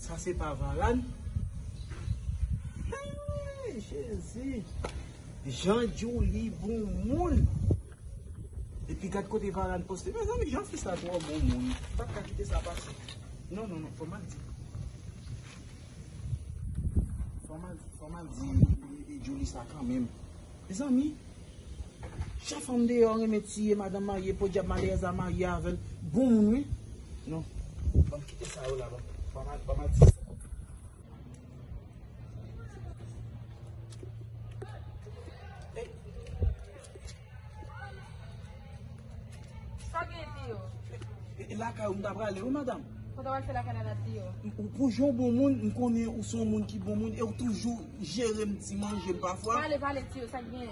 Sa se pa valad. Hey jezi. Jean Joli bon moun. Epi gad kote valad poste. Mè zanmi jan fi sa twò bon moun. Pat ka kite sa pase. Non non non fòm ak di. Fòm ak di. Fòm ak di. Joli sa kan menm. Mezanmi Chak fanm deyò renmen tiye madanm marye podyab maleyèz la marye avèl bon moun wi non banm kite sa yo la banm al ti Sa gen di yo? E lakay ou m ta prale wi madam. Sa w ta pral fè lakay la Nati yo? Pou jan w bon moun, m konnen ou se yon moun ki bon moun e w toujou jere m ti manje m pafwa. Pale, pale ti yo, sa k gen?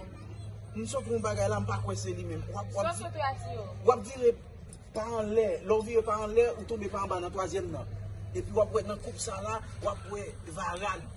M sot wè yon bagay la, m pa kwè se li menm. Sa w sot wè a ti yo? W ap vire pa anlè, lè w vire pa anlè, ou tonbe pa anba nan twazyèm nan. Epi w ap wè nan koup sa la, w ap wè Varane.